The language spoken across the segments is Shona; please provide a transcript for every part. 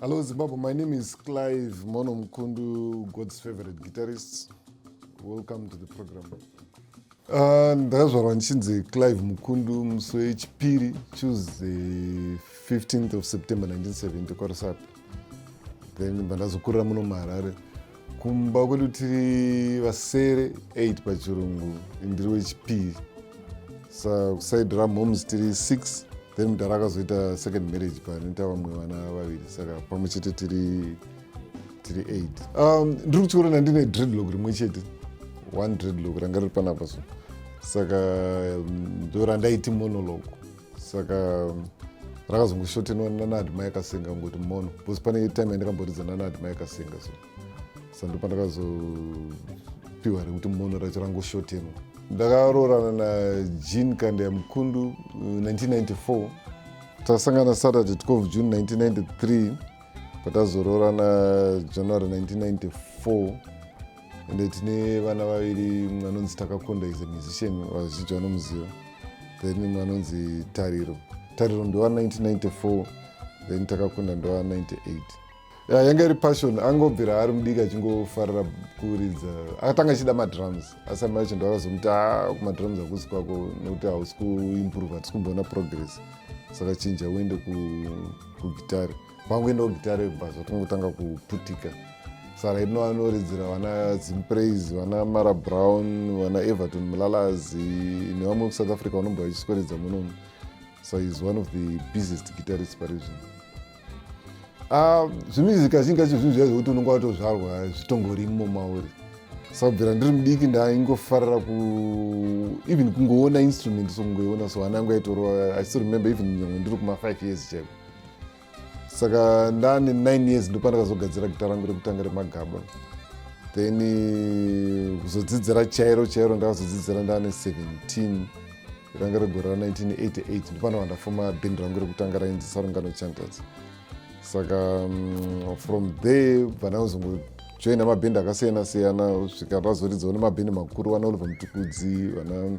Hello, Zimbabwe. My name is Clive Mono Mkundu, God's favorite guitarist. Welcome to the program. Uh, ndakazvarwa ndichinzi Clive Mukundu musi wechipiri Tuesday 15th of September 1970 kwaRusape. then bandazokurira muno muharare kumba kwedu tiri vasere 8 pachirungu ndiri wechipiri sa kuside ramoms tiri 6 then mudhara akazoita second marriage panoita vamwe vana vaviri saka pamwe chete tiri tiri 8 um, ndiri kuchiona ndine dreadlock rimwe chete one dreadlock ranga riri panapa so saka um, ndorandaiti monologue saka rakazongoshotenwa nana admai kasinga ngoti mono bcause pane time yandakamboridza nana admai kasinga so sandopandakazopiwa rekuti mono racho rangoshotenwa ndakaroorana najean kandeya mukundu 1994 uh, takasangana saturday 12 june 1993 patazoroorana january 1994 ende tine vana vaviri mumwe anonzi takakonda is a musician vazhinji vanomuziva then mumwe anonzi tariro tariro ndowa 1994 then takakunda ndowa 98 ya yanga iri passion angobvira ari mudiki achingofarira kuridza akatanga achida madrums asi amai vacho ndovakazomuti a ah, kumadrums hakusi kwako nekuti hausi kuimprove hatisi kumboona progress saka chinja uende kugitari ku Pangoendawo gitare bva zvatongotanga kuputika sara ino anoridzira vana zimpraise vana mara brown vana everton mulalazi nevamwe kusouth africa vanombova vachisweredza munomu so is one of the busiest guitarist pari zvino ah, zvimizi kazhinji kacho zvinhu zviya zvekuti unonga watozvarwa zvitongori imo mauri sakubvira ndiri mudiki ndaingofarira ku even kungoona instrument so kungoiona so ana angu aitorova i still remember even nyangwe ndiri kuma five years chaiko saka ndane 9 years ndopandakazogadzira gita rangu rekutanga remagaba then eh, kuzodzidzira chairo chairo ndakazodzidzira ndane 17 ranga regore ra 1988 ndopano vandafoma bhendi rangu rekutanga rainzi sarungano chanters saka mm, from there vanazongojoina mabhendi akasiyana siyana svika razoridzawo nemabhendi makuru vana oliver mutukudzi vana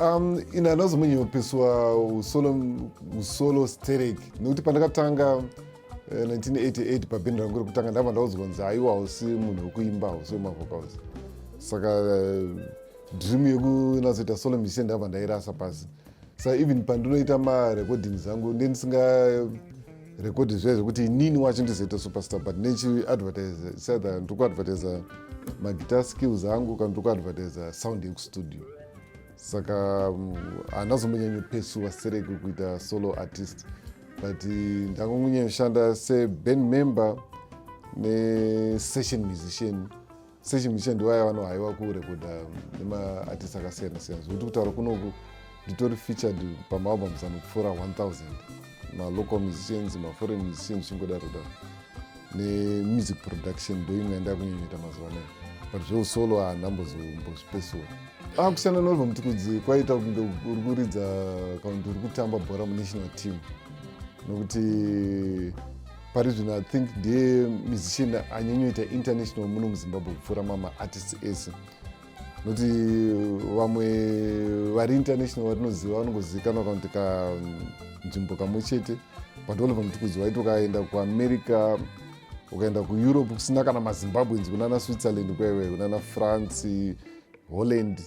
Um, ini handina kuzomboinyopiswa usolo, usolo sterek nekuti pandakatanga 1988 eh, pabhindi rangu rekutanga ndabva ndaudzwa nzi aiwa hausi munhu wekuimba hausi wemavocals saka eh, dream yekunatsoita solo musician ndabva ndairasa pasi sa even pandinoita marecording zangu ndindisinga record zviya zvekuti inini wacho ndizoita superstar but nechiadvertise sadha ndiri kuadvertise maguitar skills angu kana ndiri kuadvertise sound yekustudio saka mm, haana zombonyanyo pesuwa sereke kuita solo artist but eh, ndangongonyanya kushanda seband member nesession musician sechimuchende waya vanohaiwa kurekodha um, nemaartist akasiyana siyana zvekuti kutaura kunoku nditori featured pamaabums anopfuura 1000 malocal musicians maforeign musicians zvichingodaro daro nemusic production ndoimwe yandakunyenyeta mazuva anayo but zveusolo haana mbozombozvipesiwa ah, kusiyana nolva mutikudzi kwaita kunge uri kuridza kana kuti uri kutamba bhora munational team nokuti pari zvino i think ndiye musician anyanyoita international muno muzimbabwe kupfuura mama artists ese nokuti vamwe vari international vatinoziva vanongozivikanwa kanoti kanzvimbo kamwe chete but oliver mutukuzi waiti ukaenda kuamerica ukaenda kueurope kusina kana mazimbabweans kunana switzerland kwaiwe kunana france holland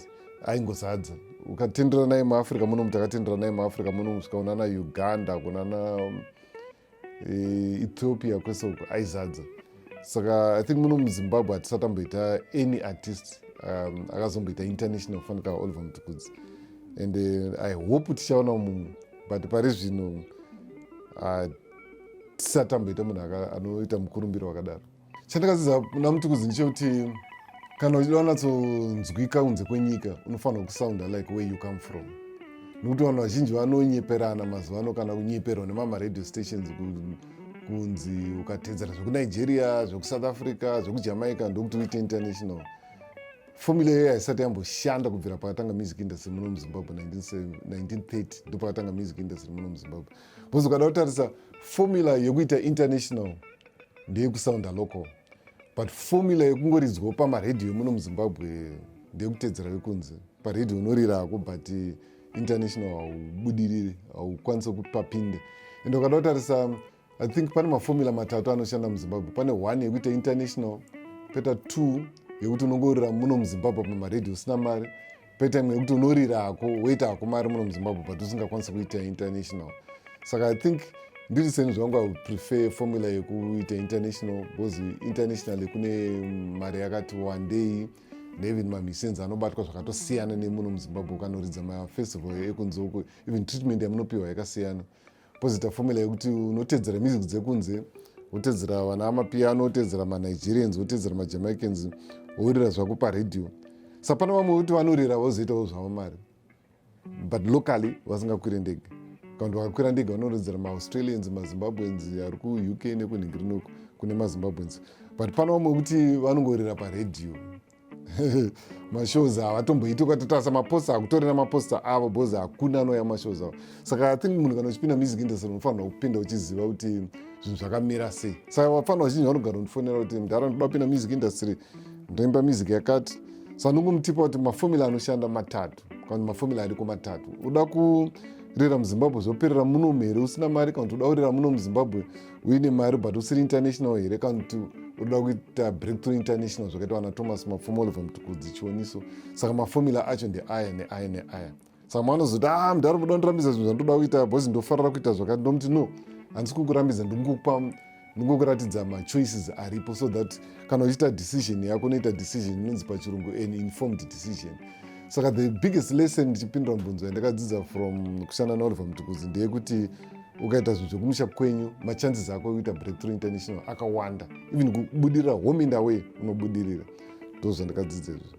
aingozadza ukatendera naye muafrica munomu takatendera naye muafrica munomu svika kunana uganda kunana ethiopia kwese uko aizadza saka i think muno muzimbabwe hatisatamboita any artist um, akazomboita international kufanika oliver mutukudzi and uh, i hope tichaona mumwe but pari zvino uh, tisatamboita munhu anoita mukurumbiro wakadaro chandakadzidza kuna mutukuzi ndechekuti kana uchida wanatsonzwika kunze kwenyika unofanira kusounda like where you come from nokuti vanhu vazhinji vanonyeperana mazuva ano kana kunyeperwa nemamaradio stations kunzi ukatedzera zvekunigeria zvekusouth africa zvekujamaica ndokuti uite international fomula iyoyo haisati yamboshanda kubvira pakatanga music industry muno muzimbabwe 1930 ndo pakatanga music industry muno muzimbabwe bcause ukada kutarisa fomula yekuita international ndeyekusounda local but formula yekungoridzwawo pamaredhiyo muno muzimbabwe ndeyekutedzera vekunze paredhiyo unorirako but international haubudiriri haukwanise kupapinde ende ukada kutarisa i think pane mafomula matatu anoshanda muzimbabwe pane one yekuita international peta two yekuti unongorira muno muzimbabwe pamaradio usina mari paitime yekuti unorira hako woita hako mari muno muzimbabwe but usingakwanisi kuita international saka i think ndiri seni zvangu i prefer formula yekuita international because international kune mari yakati wandei neven mamissions anobatwa zvakatosiyana nemuno muzimbabwe ukanoridza mafestival ekunzeuko even treatment yamunopiwa yakasiyana Pozoita formula yekuti unotedzera music dzekunze wotedzera vana mapiano wotedzera manigerians wotedzera majamaicans worira zvako paradio sapana vamwe voti vanorira vozoitawo zvavo mari but locally vasingakwire ndege kakuti vakakwira ndege vanorodzera maaustralians mazimbabweans ari kuuk nekunhingi rinoko kune mazimbabweans but pano vamwe kuti vanongorira paradio mashows ava atomboiti ukatotarisa maposta hakutori namaposta avo bcoz hakuna anouya mashows avo saka i think munhu kana uchipinda music industry unofanirwa kupinda uchiziva kuti zvinhu zvakamira sei saka vafanira vazhinji vanogara undifonera kuti mdhara ndoda kupinda music industry ndoimba music yakati sa ndongomutipa kuti mafomula anoshanda matatu kana mafomula ariko matatu uda kurira muzimbabwe zvoperera munomu here usina mari kana kuti uda kurira muno muzimbabwe uine mari but usiri international here kana kuti unoda kuita breakthrough international zvakaitwa na thomas mapfumo oliver mutukudzi chioniso saka mafomula acho ndeaya neaya neaya saka maanozoti a ah, mudhara muda ndirambidza zvinhu zvandoda kuita bhozi ndofarira kuita zvakati ndomuti no handisi kukurambidza ndingokupa ndingokuratidza machoices aripo so that kana uchiita decision yako unoita decision inonzi pachirungu an informed decision saka the biggest lesson ndichipindura mubvunzo yandakadzidza from kushanda naoliver mutukudzi ndeyekuti ukaita zvinhu zvekumusha kwenyu machances ako ekuita breakthrough international akawanda even kubudirira home and away unobudirira ndo zvandakadzidza izvozvo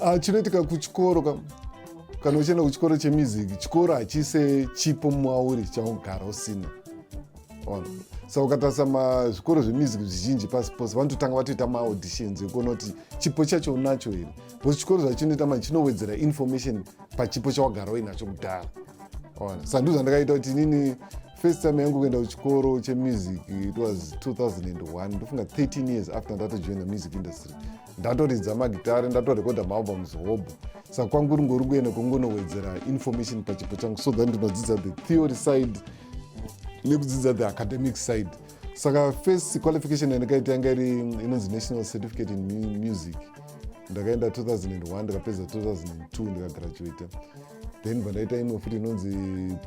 ah, chinoitika kuchikoro ka kana uchienda kuchikoro chemiziki chikoro hachise chipo mwauri chaugara usina ona saka ukatarisa mazvikoro zvemiziki zvizhinji pasi pose vanototanga vatoita maauditions ekuona kuti chipo chacho unacho here bcause chikoro zvachinoita manje chinowedzera information pachipo chawagara uinacho kudhara ona saka ndizvo zvandakaita kuti inini first time yangu kuenda kuchikoro chemusic it was 2001 ndofunga 13 years after ndatojoina music industry ndatoridza magitare ndatorekodha maalbums hobho saka kwangu ringori kuenda kungonowedzera information pachipo changu so that ndinodzidza the theory side nekudzidza the academic side saka first qualification yandakaita yanga iri inonzi national certificate in music ndakaenda 2001 ndikapedza 2002 ndikagraduata then bvandaita imwe futi inonzi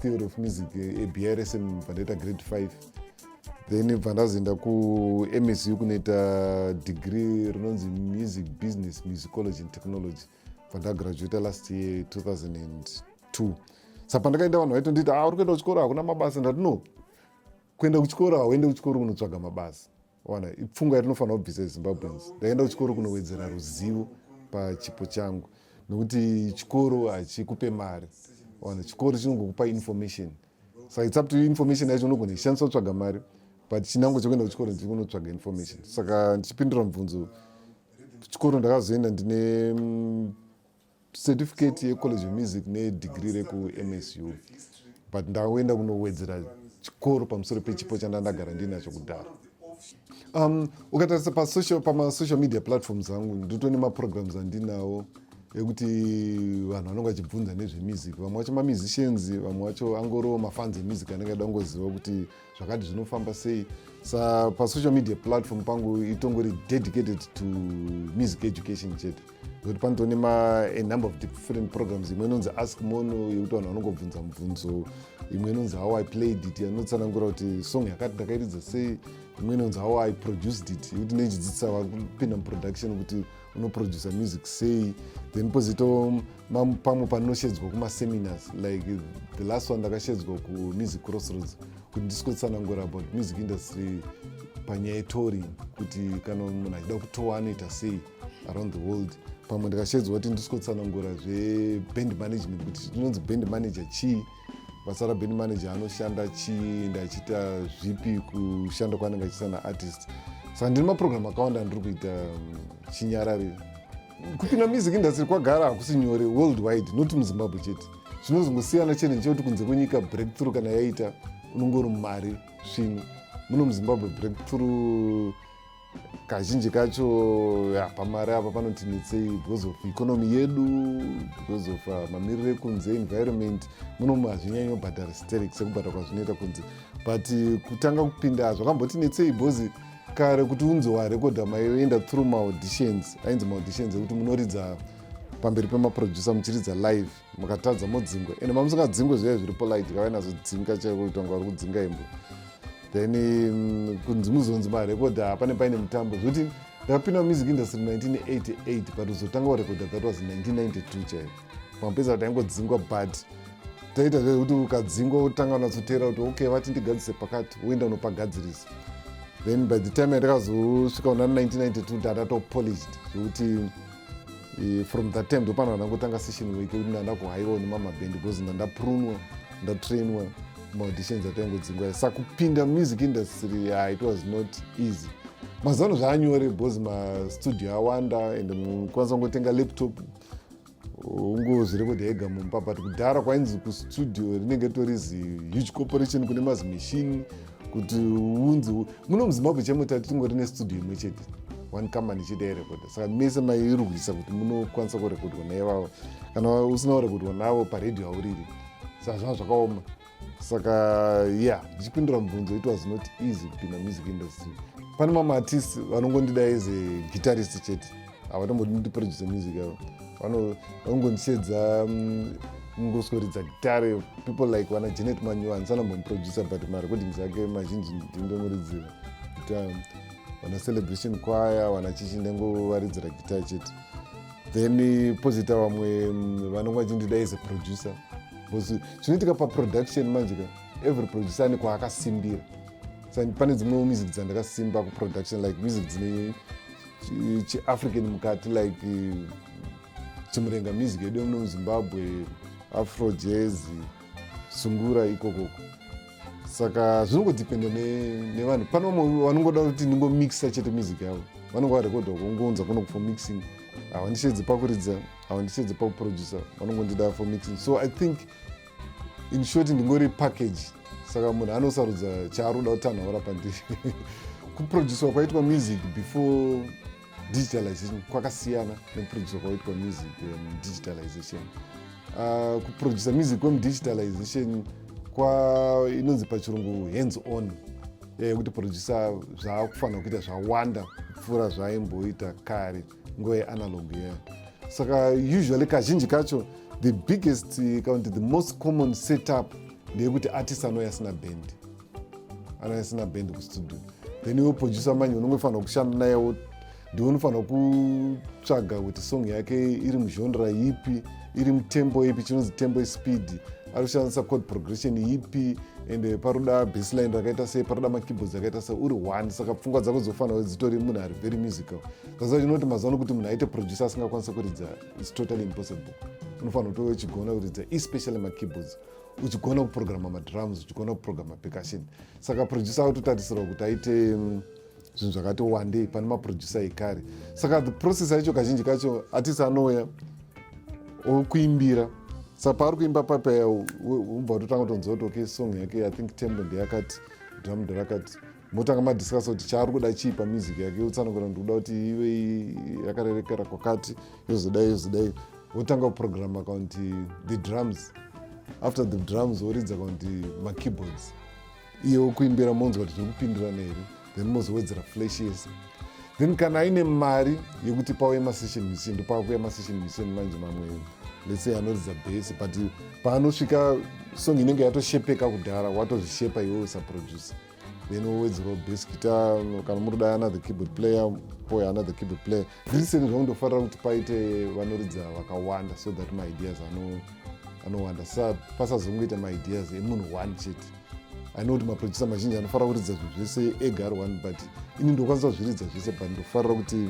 theory of music abrsm eh, bvandaita grade 5 then bvandazoenda kumsu kunoita degree rinonzi music business musicology and technology bvandagraduata last year 2002 sa pandakaenda vanhu vaitondiita ah, uri kuenda kuchikoro hakuna mabasa ndati no kuenda kuchikoro hauende kuchikoro kunotsvaga mabasa wana ipfungwa yatinofanira kubvisa yezimbabweans ndakaenda kuchikoro kunowedzera ruzivo pachipo changu nokuti chikoro hachikupe mari wana chikoro chinongokupa information saka it's up to information yacho unogona ishandisa kutsvaga mari but chinango chekuenda kuchikoro ndiri kunotsvaga information saka ndichipindura mubvunzo kuchikoro ndakazoenda ndine mm, certificate yecollege of music nedegree rekumsu but ndakuenda kunowedzera chikoro pamusoro pechipo chanda ndagara ndinacho kudhara um, ukatarisa pamasocial media platforms angu ndito nemaprograms andinawo ekuti vanhu vanenge vachibvunza nezvemusic vamwe vacho mamusicians vamwe vacho angoro mafans emusic anenge ada kungoziva kuti zvakati zvinofamba sei sa pasocial media platform pangu itongori dedicated to music education chete nokuti panotone manumber of different programs imwe inonzi ask mono yekuti vanhu vanongobvunza mubvunzo imwe inonzi how i played it anotsanangura kuti song yakati ndakairidza sei imwe inonzi how i produced it yekuti neichidzidzisa vakupinda muproduction kuti unoproducer music sei then pozito pamwe panoshedzwa kumaseminars like the last one ndakashedzwa kumusic crossroads kuti ndisikotsanangura about music industry panyaya yetori kuti kana munhu achida kutowa anoita sei around the world pamwe ndikashedzwa kuti ndisikotsanangura zveband management kuti inonzi band manager chii basa raband manager anoshanda chii ndachiita zvipi kushanda kwaanenge achiita naartist saka ndine maprogram akawanda andiri kuita um, chinyarari kupinda music industry kwagara hakusi nyore world wide not muzimbabwe chete zvinozongosiyana chete nechekuti kunze kwenyika breakthrough kana yaita unongori mari svinu muno muzimbabwe breakthrough kazhinji kacho pamari apa panoti netsei because of economy yedu because of uh, mamiriro ekunze environment munomu hazvinyanyi obhadhara sterek sekubhadhara kwazvinoita kunze but uh, kutanga kupinda zvakamboti netsei because kare kuti unzi warekodha maienda through maauditions ainzi maauditions ekuti munoridza pamberi pemaproducer muchiridza live mukatadza modzingwa ende mamusingadzingwe zviya zviri polite kavai nazodzinga chaiko kuita kunge vari kudzinga imbo then mm, kunzi muzonzi marekodha hapane paine mutambo zvokuti ndakapinda mumusic industry 1988 but kuzotanga warekodha that was 1992 chaivo pamapedza kuti aingodzingwa but taita zvekuti ukadzingwa wotanga unatsoteera kuti okay vati ndigadzise pakati woenda unopagadzirisa then by the time yandakazosvika una 1992 ndatatopolished zvekuti e, from that time ndopano ndangotanga session weke kuti ndanda kuhaiwa nemama band because ndandaprunwa ndatrainwa maauditions ataingodzingwa sa kupinda music industry yeah, it was not easy mazuva ano zvaanyore because mastudio awanda and mukwanisa kungotenga laptop ungozviri kuti ega mumba but kudhara kwainzi kustudio rinenge tori zi huge corporation kune mazimachine kuti unzi muno muzimbabwe chemo tati tingori nestudio imwe chete one company chete yarekodha saka mese mairwisa kuti munokwanisa kurekodhwa naivavo kana usina kurekodhwa navo paredhiyo auriri saka zvava zvakaoma saka ya yeah, ndichipindura mubvunzo it was not easy kupinda music industry pane mamwe artist vanongondida as a guitarist chete havatombodi kuti producer music yavo vanongondisedza mm, ngosweridza gitare people like vana janet manyiwa handisana mbomproducer but marecordings ake mazhinji ndindomuridzira um, vana celebration kwaya vana chichi ndangovaridzira gitare chete then pozita vamwe mm, vanonga vachindida as a producer bcause chinoitika paproduction manje ka every producer ane kwaakasimbira pane dzimwewo music dzandakasimba kuproduction like music dzine chiafrican mukati like chimurenga music yedu yemuno muzimbabwe afro jazz sungura ikokoko saka zvinongodependa nevanhu ne pane vamwe vanongoda kuti ndingomixa chete music yavo vanongo varekodha kungonza kuno for mixing havandichedze pakuridza havandichedze pakuproducer vanongondida for mixing so i think in short ndingori package saka munhu anosarudza chaaroda kuti anhu aura pandiri kuproducwa kwaitwa music before digitalization kwakasiyana nekuproducwa kwaitwa music mudigitalization um, uh, uh, kuproducer music kwemudigitalization kwa inonzi pachirungu hands on yekuti eh, producer zvaakufanira kuita zvawanda kupfuura zvaaimboita kare nguva yeanalog ye saka usually kazhinji kacho the biggest kana kuti the most common setup ndeyekuti artist anouya asina band anouya asina band kustudio then iwe producer manje unongofanira kushanda nayewo ndiwe unofanira kutsvaga kuti song yake iri muzhonra yipi iri mutembo ipi chinonzi tembo ispeed ari kushandisa code progression yipi and eh, paroda baseline rakaita sei paroda makeyboards akaita sei uri one saka pfungwa dzako dzofanira dzitori munhu ari very musical kaziva chinoti mazuva ano kuti munhu aite producer asingakwanisa kuridza is totally impossible unofanira kutove uchigona kuridza especially makeyboards uchigona kuprograma madrums uchigona kuprograma percussion saka producer akutotarisirwa kuti aite mm, zvinhu zvakati wandei pane maproducer ekare saka the process yacho kazhinji kacho atisi anouya okuimbira saka paari kuimba papaya ubva watotanga kutonzwa kuti okay song yake i think tembo ndeyakati drum nderakati motanga madiscuss kuti chaari kuda chii pamusic yake yotsanangura ndikuda kuti ive yakarerekera kwakati yozodai yozodai wotanga kuprograma kaunti the drums after the drums woridza kaunti makeyboards iye wokuimbira monzwa kuti zviri kupindirana here then mozowedzera flash yese then kana aine mari yekuti pauye masession mission ndopaakuya masession mission manje mamwe let's say anoridza base but paanosvika song inenge yatoshepeka kudhara watozvishepa iwe usaproducer then wowedzerawo bass guitar kana muri dai another keyboard player poya another keyboard player recently zvakundofarira kuti paite vanoridza vakawanda so that maideas anowanda sa pasazongoita maideas emunhu one chete i know kuti maproducer mazhinji anofarira kuridza zvinhu zvese ega ari one but ini ndokwanisa kuzviridza zvese but ndofarira kuti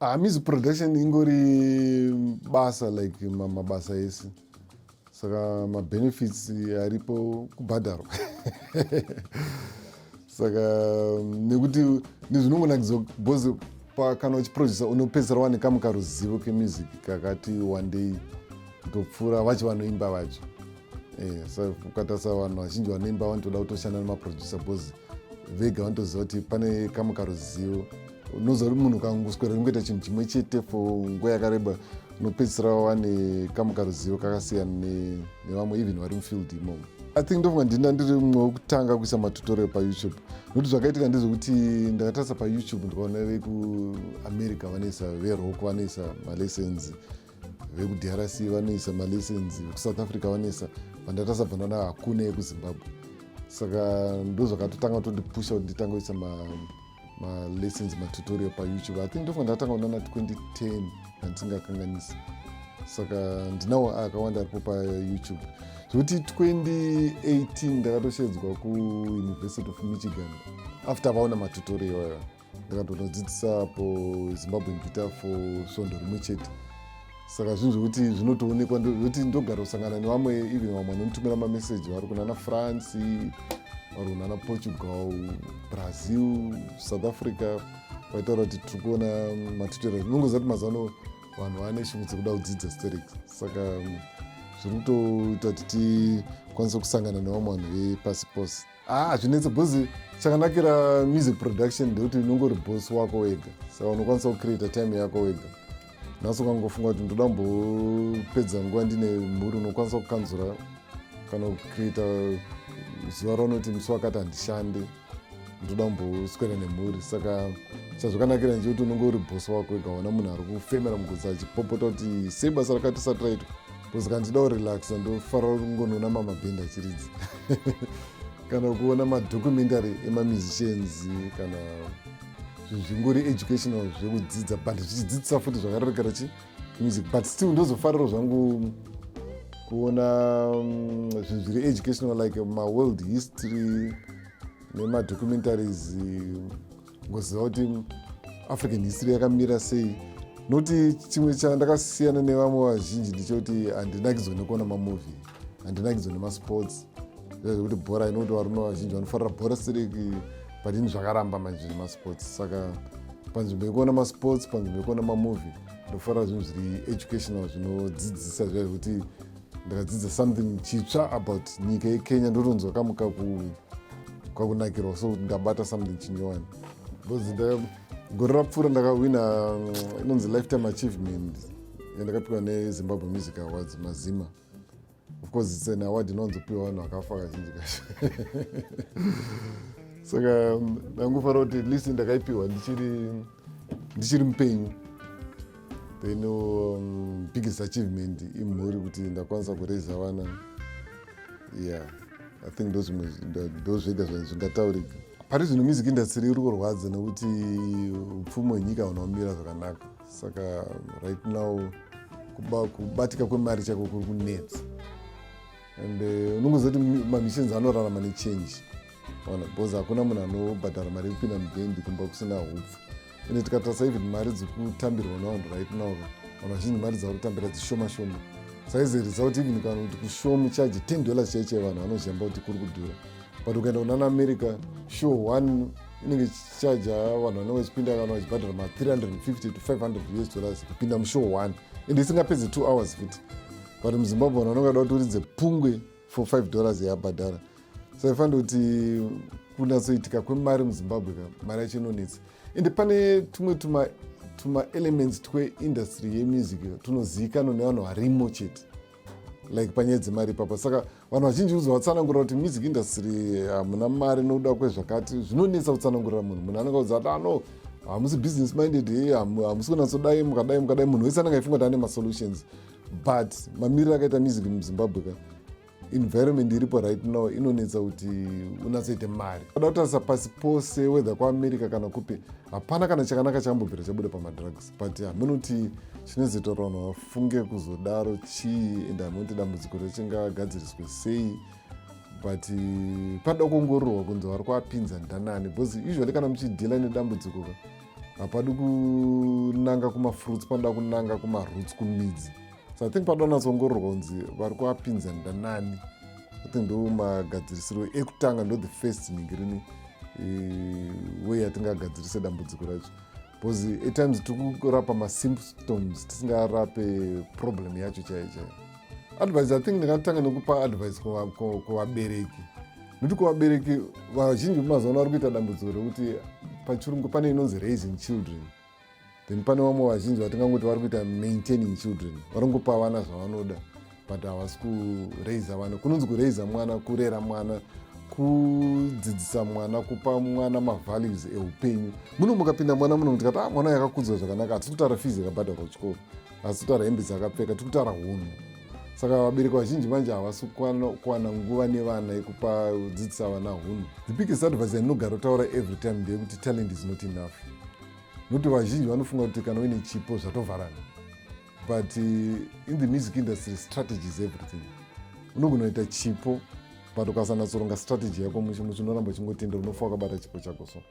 Ah, music production ingori basa like mabasa ese saka mabenefits aripo kubhadharwa saka mm, nekuti nezvinongonakidza bcause kana uchiproducer unopedzisira wane kamu karuzivo kemusic kakati wandei kutopfuura vacho vanoimba vacho eh, sa ukatarisa vanhu vazhinji vanoimba vanotoda kutoshanda nemaproducer bcause vega vanotoziva kuti pane kamu karuzivo unoziva kuti munhu kangoswera kungoita chinhu chimwe chete fo nguva yakareba unopedzisira wane kamwe karuzivo kakasiyana nevamwe even vari mufield imomo i think ndofunga ndina ndiri mumwe wekutanga kuisa matutorial payoutube nokuti zvakaitika ndezvekuti ndakatarisa payoutube ndikaona vekuamerica vanoisa veroko vanoisa malessons vekudrc vanoisa malessons vekusouth africa vanoisa vandatarisa bvanana hakuna yekuzimbabwe saka ndozvakatotanga tondipusha kuti nditange kuisa malessons matutorial payoutube i think ndofa ndatanga kunana 2010 handisingakanganisi saka ndinawo akawanda aripo payoutube zvekuti 2018 ndakatoshedzwa kuuniversity of michigan after vaona matutorial iwayo ndakatonodzidzisa po zimbabwean guitar for svondo rimwe chete saka zvinhu zvekuti zvinotoonekwa zvekuti ndogara kusangana nevamwe even vamwe vanomutumira mameseji vari kunana france vari kunana portugal brazil south africa vaitaura kuti tiri kuona matutera zvinongoziva kuti mazano vanhu vane shungu dzekuda kudzidza sterix saka zviri kutoita kuti tikwanise kusangana nevamwe vanhu vepasi pose haa ah, hazvinetse bcoz chakanakira music production ndekuti unongori boss wako wega saka unokwanisa kucreata time yako wega nhasi ukangofunga kuti ndoda mbopedza nguva ndine mhuri unokwanisa kukanzura kana kucreata zuva raunoti musi wakati handishande ndoda kumboswera nemhuri saka chazvakanakira nje kuti unenge uri bhosi wako ega wana munhu ari kufemera mugudza achipopota kuti sei basa rakati sati raitwa kusaka ndichida kurelaxa ndofarira kungonona mamabhindi achiridzi kana kuona madocumentary emamusicians kana zvingori educational zvekudzidza but zvichidzidzisa futi zvakarerekera chi music but still ndozofariro zvangu kuona mm, zvinhu zviri educational like maworld history nemadocumentaries ngoziva kuti african history yakamira sei nokuti chimwe chandakasiyana nevamwe vazhinji ndichokuti handinakidzwa nekuona mamovie handinakidzwa nemasports zvekuti bhora inokuti varume vazhinji vanofarira bhora siriki but ini zvakaramba manje nemasports saka panzvimbo yekuona masports panzvimbo yekuona mamovie ndofarira zvinhu zviri educational zvinodzidzisa zviya zvekuti ndakadzidza something chitsva about nyika yekenya ndotonzwa kamu kakunakirwa so ndabata something chinyowani bcause gore rapfuura ndakahwina mm, inonzi lifetime achievement yandakapiwa nezimbabwe music awards mazima of course its an award inonzopiwa vanhu vakafa kazhinji kacho saka mm, ndangofara kuti at least ndakaipiwa ndichiri ndichiri mupenyu then um, biggest achievement imhuri kuti ndakwanisa kuraiza vana yeah i think ndozvega zvingataurika pari zvino music industry iri kurwadza nekuti upfumi hwenyika huna kumira zvakanaka saka right now kubatika kwemari chako kuri kunetsa and eh, unongoziva kuti mamissions anorarama nechange ona because hakuna munhu anobhadhara mari yekupinda mubhendi kumba kusina hupfu ende tikatarisa even mari dzikutambirwa navanhu right now ka vanhu vazhinji mari dzava kutambira dzishoma shoma saizi result even kana kuti kushomu charge 10 dollars chaicho yevanhu vanozhamba kuti kuri kudhura but ukaenda kunana america show one inenge ichichaja vanhu vanenge vachipinda kana vachibhadhara ma 350 to 500 us dollars kupinda mushow one ende isingapedze two hours futi but muzimbabwe vanhu vanongada kuti uridze pungwe for 5 dollars yabhadhara so ifanira kuti kunatsoitika kwemari muzimbabwe ka mari yacho inonetsa ende pane tumwe tuma tumaelements tweindustry yemusic tunozivikanwa nevanhu varimo chete like panyaya dzemari ipapa saka vanhu vazhinji uzi vatsanangura kuti music industry hamuna mari nokuda kwezvakati zvinonetsa kutsanangurira munhu munhu anenge uzi ata no hamusi business minded hamusi kunatsodai mukadai mukadai munhu wese anenge aifunga kuti ane masolutions but mamiriro akaita music muzimbabwe ka environment iripo right now inonetsa kuti unatsoite mari ada kutarisa pasi pose wether kuamerica kana kupi hapana kana chakanaka chakambobvira chabuda pamadrugs but hameno kuti chinozoita kuti vanhu vafunge kuzodaro chii and hameno kuti dambudziko rechingagadziriswe sei but panoda kuongororwa kunzi vari kuapinza ndanani because usually kana muchidhila nedambudziko ka hapadi kunanga kumafruits panoda kunanga kumaroots kumidzi so i think panoda kunatsoongororwa kunzi vari kuapinza ndanani i think ndo magadzirisiro ekutanga ndo the first ningirini eh, way yatingagadzirise dambudziko racho because atimes tiri kurapa masymptoms tisingarape problem yacho chaiyo chaiyo advice i think ndingatanga nekupa advice kuvabereki nekuti kuvabereki vazhinji vemazuva ano vari kuita dambudziko rekuti pachirungu pane inonzi raising children then pane vamwe vazhinji vatingangoti vari kuita maintaining children varingopa vana zvavanoda but havasi kuraiza vana kunonzi kuraiza mwana kurera mwana kudzidzisa mwana kupa mwana mavalues eupenyu muno mukapinda mwana muno tikati ah, mwana yakakudzwa zvakanaka hatisi kutaura fizi yakabhadharwa kuchikoro asi kutaura hembe dzakapfeka tiri kutaura hunhu saka vabereki vazhinji manje havasi kuwana nguva nevana yekupa kudzidzisa vana hunhu the biggest advice yainogara kutaura every time ndeyekuti talent is not enough nokuti vazhinji vanofunga kuti kana uine chipo zvatovharana but eh, in the music industry strategy is everything unogonoita chipo but ukasanatsoronga strategy yako muchinoramba uchingotendera unofa wakabata chipo chako so